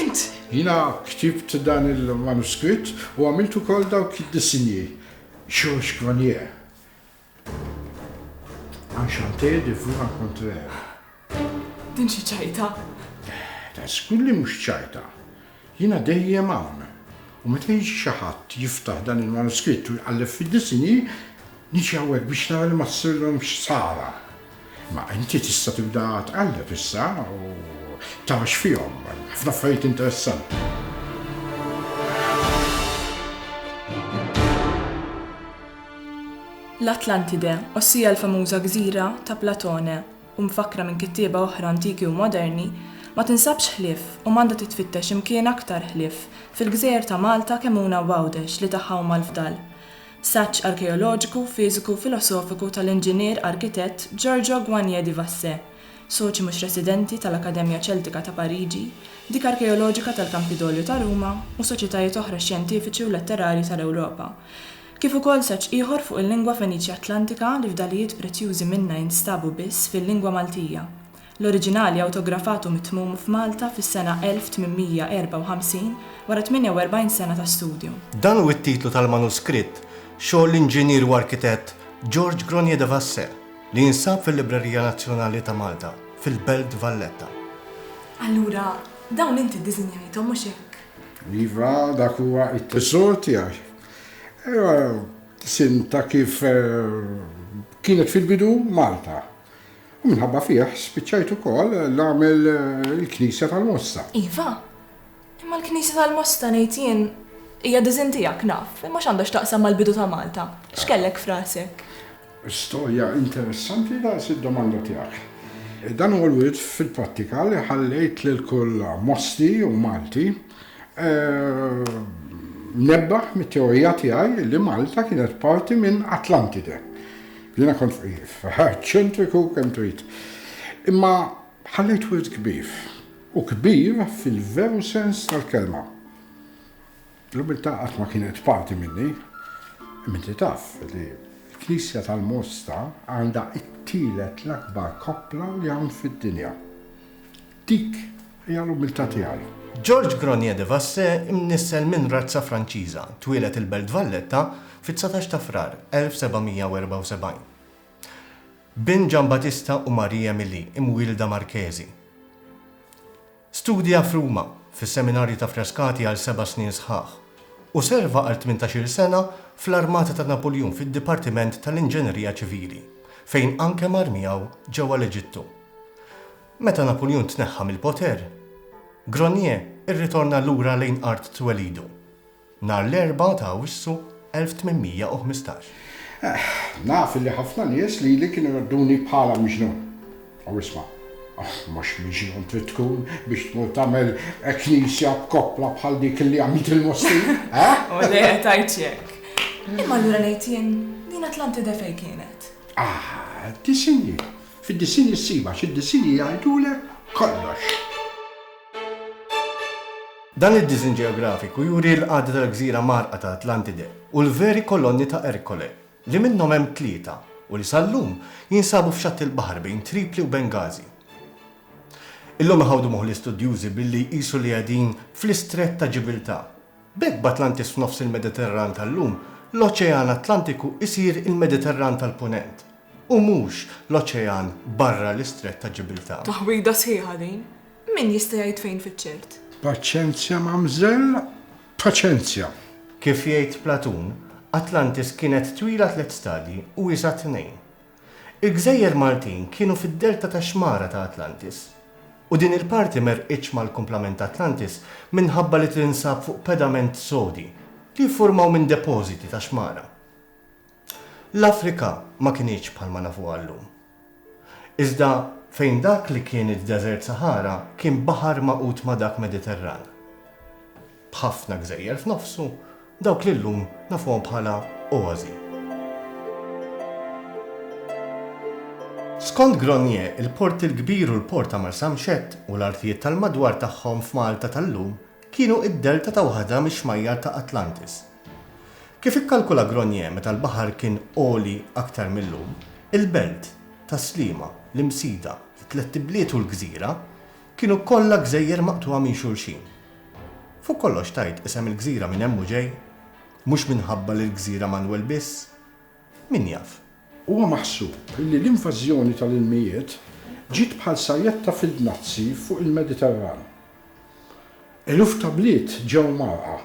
Int! Jiena ktibt dan il-manuskritt u għamilt ukoll dawk id-disinji. Georges Granier. Enchanté de vous rencontrer. Din xi ċajta! Ta' żgur li mhux ċajta. Jiena dejjem hawn. U meta jiġi xi ħadd jiftaħ dan il-manuskritt u jqalleb fid-disinji, niġi hawnhekk biex nara li ma ssirlhomx ħsara. Ma inti tista' tibda tqalleb issa u tara x'fihom, hemm ħafna affarijiet interessanti. L-Atlantide, ossia l-famuża gżira ta' Platone u mfakkra minn kittieba oħra antiki u moderni, ma tinsabx ħlief u m'għandha titfittex imkien aktar ħlief fil-gżejjer ta' Malta kemm Una u Għawdex li tagħha huma l-fdal. Saġġ arkeoloġiku, fiżiku, filosofiku tal-inġinier arkitett Giorgio Guagné di Vassè, soċi mhux residenti tal-Akkademja Ċeltika ta' Pariġi, dik arkeoloġika tal-Kampidolju ta' Ruma u soċjetajiet oħra xjentifiċi u letterarji tal-Ewropa, kif ukoll saġġ ieħor fuq il-lingwa Feniċja-Atlantika li fdalijiet prezzjużi minnha jinstabu biss fil-lingwa Maltija. L-oriġinali awtografat u mitmum f'Malta fis-sena 1854 wara 48 sena ta' studju. Dan hu t-titlu tal-manuskritt, xogħol l-inġinier u arkitett George Gronier de Vassè, li jinsab fil-Librerija Nazzjonali ta' Malta fil-Belt Valletta. Allura, dawn inti ddisinjajthom, mhux hekk? Iva, dak huwa t-tesor tiegħi. Ejja, disinn ta' kif kienet fil-bidu Malta. U minħabba fih spiċċajt ukoll nagħmel il-Knisja tal-Mosta. Iva, imma l-Knisja tal-Mosta ngħid jien hija diżinn tiegħek naf, imma x'għandha x'taqsam mal-bidu ta' Malta? X'kellek f'rasek? Storja interessanti daqs id-domanda tiegħek. Dan huwa l-wirt fil-prattika li ħallejt lil kull Mosti u Malti mnebbaħ mit-teorija tiegħi li Malta kienet parti minn Atlantide. Jiena kont fqif, eċċentriku kemm trid. Imma ħallejt wirt kbir, u kbir fil-veru sens tal-kelma. L-umiltà qatt ma kienet parti minni, imma inti taf li l-Knisja tal-Mosta għandha t-tielet l-akbar koppla li hawn fid-dinja. Dik Hija l-umiltà tiegħi. Georges Gronier de Vassé imnissel minn razza Franċiża, twieled il-Belt Valletta fit-dsatax ta' Frar 1774. Bin Giambattista u Marie Emilie, imwielda Marchesi. Studja f'Ruma, fis-Seminarju ta' Frascati għal seba' snin sħaħ, u serva għal tmintax-il sena fl-armata ta' Napuljun fid-Dipartiment tal-Inġenerija Ċivili, fejn anke mar miegħu ġewwa l-Eġittu. Meta Napuljun tneħħa mill-poter, Gronier irritorna lura lejn art twelidu, nhar l-Erbgħa ta' Awwissu 1815. Eħ, naf illi ħafna nies lili kienu jgħodduni bħala miġnun. U isma', mhux miġnun trid tkun biex tmur tagħmel knisja b'koppla bħal dik illi għamilt il-Mosti, eħ? Ole, tajt xi hekk. Imma allura ngħid jien, din Atlantide fejn kienet? Ah, disinni. Fid-disinn issib għax id-disinji jgħidulek kollox. Dan id-disinn ġeografiku juri l-qagħda tal-gżira mgħarrqa ta' Atlantide u l-veri kolonni ta' Ercole, li minnhom hemm tlieta u li sal-lum jinsabu f'xatt il-baħar bejn Tripli u Benghazi. Illum iħawdu moħħ l-istudjużi billi jqisu li qegħdin fl-Istrett ta' Ġibiltà. B'hekk b'Atlantis f'nofs il-Mediterran tal-lum, l-Oċean Atlantiku jsir il-Mediterran tal-Punent, U mhux l-oċean barra l-Istrett ta' Ġibilta. Taħwida sħiħa din. Min jista' jgħid fejn fiċ-ċert? Paċenzja, mamżell, paċenzja! Kif jgħid Platun, Atlantis kienet twila tliet stadji u iesgħa tnejn. Il-gżejjer Maltin kienu fid-delta tax-xmara ta' Atlantis. U din il-parti m'għerqitx mal-kumplament ta' Atlantis minħabba li tinsab fuq pedament sodi li jiffurmaw minn depożiti ta' xmara. L-Afrika ma kinitx bħalma nafuha llum. Iżda fejn dak li kien id-Deżert Saħara kien baħar magħqud ma' dak Mediterran. B'ħafna gżejjer f'nofsu, dawk li llum nafuhom bħala oasi. Skont Gronier, il-Port il-Kbir u l-Port ta' Marsamxett u l-artijiet tal-madwar tagħhom f'Malta tal-lum kienu id-delta ta' waħda mix-xmajjar ta' Atlantis. Kif ikkalkula Gronier meta l-baħar kien għoli aktar mil-lum, il-belt, Tas-Sliema, l-Imsida, it-Tlett Ibliet u l-Gżira, kienu kollha gżejjer maqtugħa minn xulxin. Fuq kollox tgħid isem il-gżira minn hemm hu ġej, mhux minħabba li l-gżira Manwel biss. Min jaf? Huwa maħsub li l-invażjoni tal-ilmijiet ġiet bħal sajetta fid-dnazzi fuq il-Mediterran. Eluf ta' bliet ġew mgħarrqa.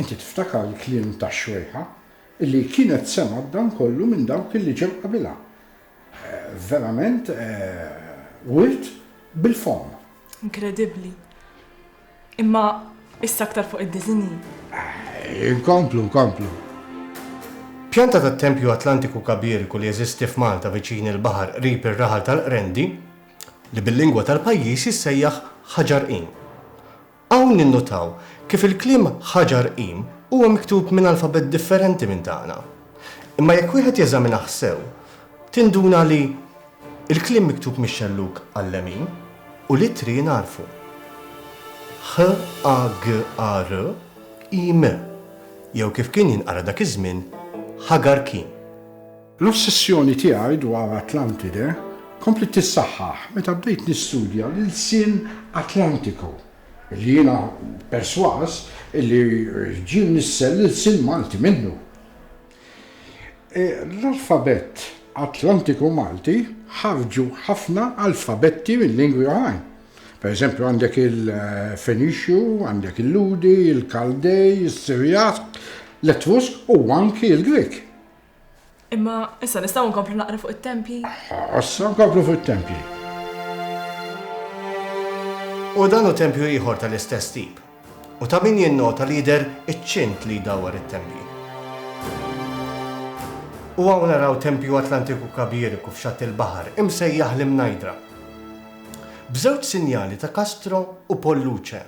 Inti tiftakar l-kliem tax-xwejħa li kienet semgħet dan kollu minn dawk li ġew qabilha. Verament wirt bil-fomm. Inkredibbli. Imma issa aktar fuq id-diżinji. Inkomplu, nkomplu. Pjanta tat-tempju Atlantiku Kabiriku li jeżisti f'Malta viċin il-baħar qrib ir-raħal tal-Qrendi, li bil-lingwa tal-pajjiż jissejjaħ Ħaġar Qim. Hawn ninnutaw kif il-kliem Ħaġar Qim huwa miktub minn alfabett differenti minn tagħna. Imma jekk wieħed jeżaminah sew, tinduna li Il-kliem miktub mix-xellug għal-lemin u l-ittri jingħarfu. HAGAR im jew kif kien jinqara dak iż-żmien Hagar Kim. L-ossessjoni tiegħi dwar Atlantide kompliet tissaħħaħ meta bdejt nistudja l-ilsien Atlantiku, li jiena persważ illi ġie mnissel l-ilsien Malti minnu. L-alfabett Atlantiku Malti ħarġu ħafna alfabetti mil-lingwi oħrajn. Pereżempju għandek il-Fenixju, għandek il-Lhudi, il-Kaldej, is-Sirjat, l-Etrusk u anki l-Grieg. Imma issa nistgħu nkomplu naqra fuq it-tempji? Issa nkomplu fuq it-tempji. U dan hu tempju ieħor tal-istess tip. U ta' min jinnota li jidher iċ-ċint li jdawwar it-tempji. U hawn naraw tempju Atlantiku Kabiriku f'xatt il-baħar, imsejjaħ l-Imnajdra. B'żewġ sinjali ta' Castro u Polluce,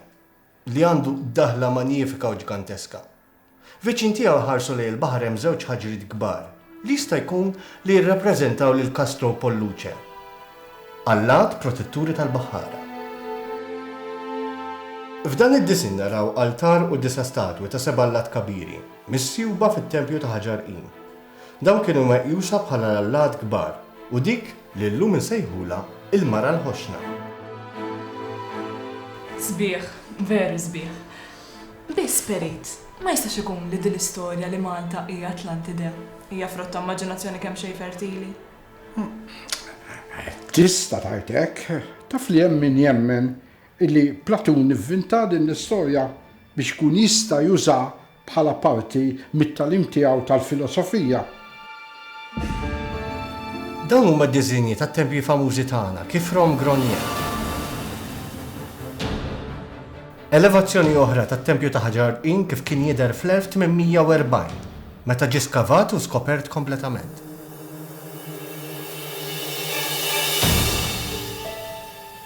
li għandu daħla manjifika u ġganteska. Viċin tiegħu jħarsu lejn il-baħar hemm żewġ ħaġriet kbar, li jista' jkun li jirrappreżentaw lil Castro u Polluce, allat protetturi tal-baħħara. F'dan id-disinn naraw altar u disa' statwi ta' seba' allat kabiri, misjuba fit-tempju ta' ħaġar qim. Dawn kienu meqjusa bħala l-allat kbar u dik li llum insejħulha il-Mara l-Ħoxna. Sbieħ, veru sbieħ. Biss Perit, ma jistax ikun li din l-istorja li Malta hija Atlantide hija frott ta' immaġinazzjoni kemxejn fertili? Tista' tgħid hekk. Taf li hemm min jemmen illi Platun ivvinta din l-istorja biex ikun jista' jużaha bħala parti mit-tagħlim tiegħu tal-filosofija. Dawn huma d-diżinji tat-tempji famużi tagħna, kif Rom Gronier. Elevazzjoni oħra tat-tempju ta' Ħaġar Qin kif kien jidher fl-1840, meta ġie skavat u skopert kompletament.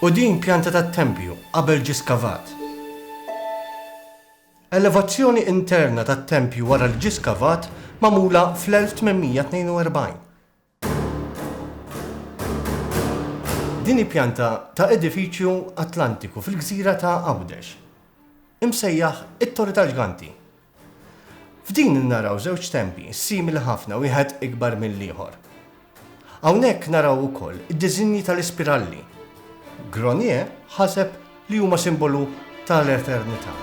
U din pjanta tat-tempju qabel ġie skavat. Elevazzjoni interna tat-tempju wara li ġie skavat magħmula fl-1842. Din hi pjanta ta' edifiċju Atlantiku fil-gżira ta' Għawdex, imsejjaħ it-Torri tal-Ġganti. F'din naraw żewġ tempji simili ħafna wieħed ikbar mill-ieħor. Hawnhekk naraw ukoll id-diżinji tal-ispiralli. Gronier ħaseb li huma simbolu ta' l-eternità.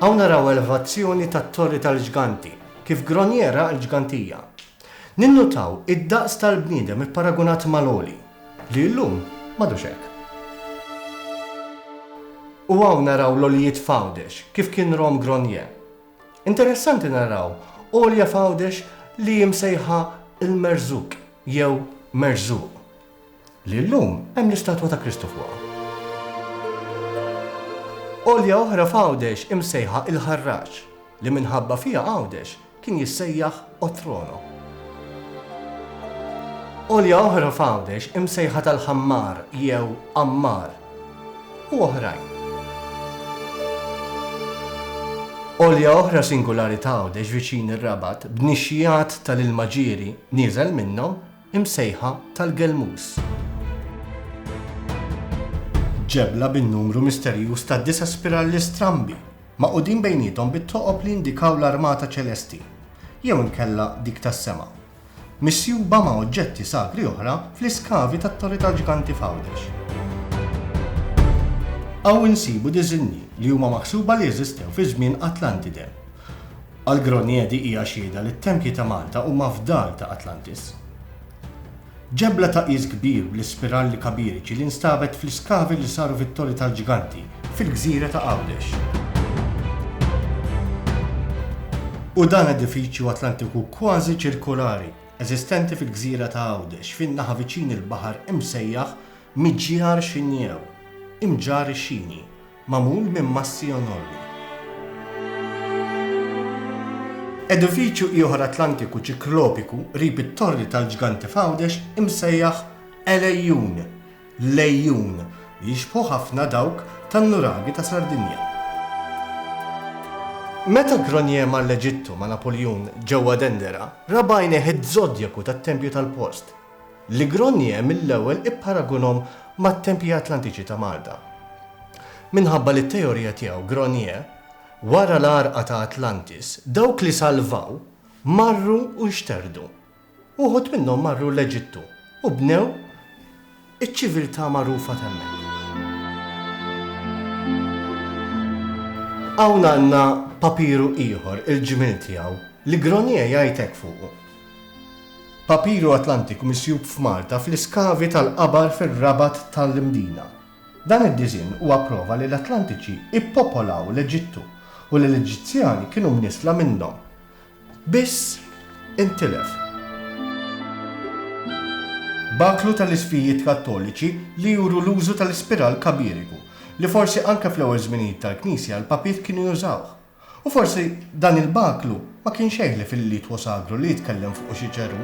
Hawn naraw elevazzjoni tat-torri tal-ġganti, kif Gronier ra l-ġgantija. Ninnutaw id-daqs tal-bniedem ipparagunat ma' l-għoli, li llum m'għadux hekk. U hawn naraw l-għoljiet f'Għawdex, kif kien rom Gronier. Interessanti naraw għolja f'Għawdex li hi msejħa l-Merżuk jew Merżuq. li llum hemm l-istatwa ta' Kristu fuqha. Għolja oħra f'Għawdex imsejħa Il-Ħarraġ, li minħabba fiha Għawdex kien jissejjaħ Otrono. Għolja oħra f'Għawdex imsejħa tal-Ħammar jew Għammar u oħrajn. Għolja oħra singulari t'Għawdex viċin ir-Rabat b'nixxiegħat tal-ilma ġieri nieżel minnhom imsejħa tal-Gelmus. Ġebla bin-numru misterjuż ta' disa' spiralli strambi, magħqudin bejniethom bit-toqob li jindikaw l-armata ċelesti, jew inkella dik tas-sema, misjuba ma' oġġetti sagri oħra fl-iskavi tat-Torri tal-Ġganti f'Għawdex. Hawn insibu diżinji li huma maħsuba li eżistew fi żmien Atlantide. Algronie di hija xhieda li t-tempji ta' Malta huma fdal ta' Atlantis. Ġebla ta' qies kbir bl-ispiralli kabiriċi li nstabet fl-iskavi li saru fit-Torri tal-Ġganti fil-gżira ta' Għawdex. U dan edifiċju Atlantiku kważi ċirkolari, eżistenti fil-gżira ta' Għawdex fin-naħa viċin il-baħar imsejjaħ Miġjar Xinjew, Imġar ix-Xini, Magħmul minn massi enormi. Edifiċju ieħor Atlantiku ċiklopiku qrib it-Torri tal-Ġganti f'Għawdex imsejjaħ El-Ejjun, Lejjun, li jixbħu ħafna dawk tan-nuraghi ta' Sardinja. Meta Gronier mar l-Eġittu ma' Napoljun ġewwa Dendera, ra b'għajnejh iz-zodjaku tat-tempju tal-post. Li Gronier mill-ewwel ipparagunhom mat-tempji Atlantiċi ta' Malta. Minħabba li t-teorija tiegħu, Gronier, wara l-għarqa ta' Atlantis, dawk li salvaw marru u nxterdu. Uħud minnhom marru l-Eġittu u bnew iċ-ċiviltà magħrufa t'hemmhekk. Hawn għandna papiru ieħor, il-ġmiel tiegħu, li Gronier jgħid hekk fuqu, Papiru Atlantiku misjub f'Malta fl-iskavi tal-qabar fir-Rabat ta' l-Imdina. Dan id-diżinn huwa prova li l-Atlantiċi ppopolaw l-Eġittu u li l-Eġizzjani kienu mnissla minnhom. Biss intilef. Baklu ta' l-isfijiet Kattoliċi li juru l-użu ta' l-ispiral kabiriku, li forsi anke fl-ewwel żminijiet tal-Knisja l-papiet kienu jużawh. U forsi dan il-baklu ma kien xejn li fil-litwo sagru li jitkellem fuqu xi ċerù.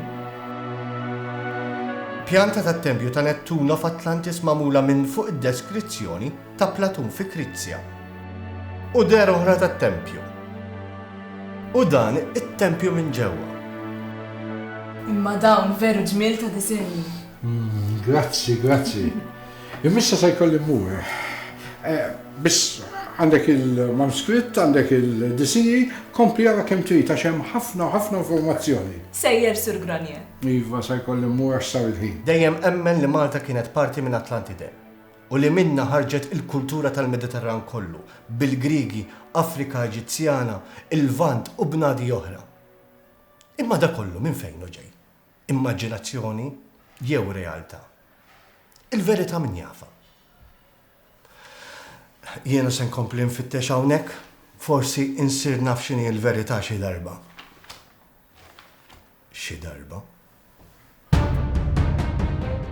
Pjanta tat-tempju ta' Nettuno f'Atlantis magħmula minn fuq id-deskrizzjoni ta' Platun fi Krizja. U dehra oħra tat-tempju. U dan it-tempju minn ġewwa. Imma dawn veru ġmiel ta' disinni! Grazzi, grazzi. Imissa se jkolli mmur. Eh, biss għandek il-manuskritt, għandek il-disini, kompli għara kem trid għax hemm ħafna ħafna informazzjoni. Sejjer Sur Granje. Iva, se jkolli mmur għax sar il-ħin. Dejjem emmen li Malta kienet parti minn Atlantide u li minna ħarġet il-kultura tal-Mediterran kollu, bil-Grigi, Afrika Eġizzjana, il-Vant u bnadi oħra. Imma da kollu minn fejn ġej? Immaġinazzjoni jew realtà? Il-verità min jafha? Jiena se nkompli nfittex hawnhekk, forsi insir naf x'inhi l-verità xi darba. Xi darba.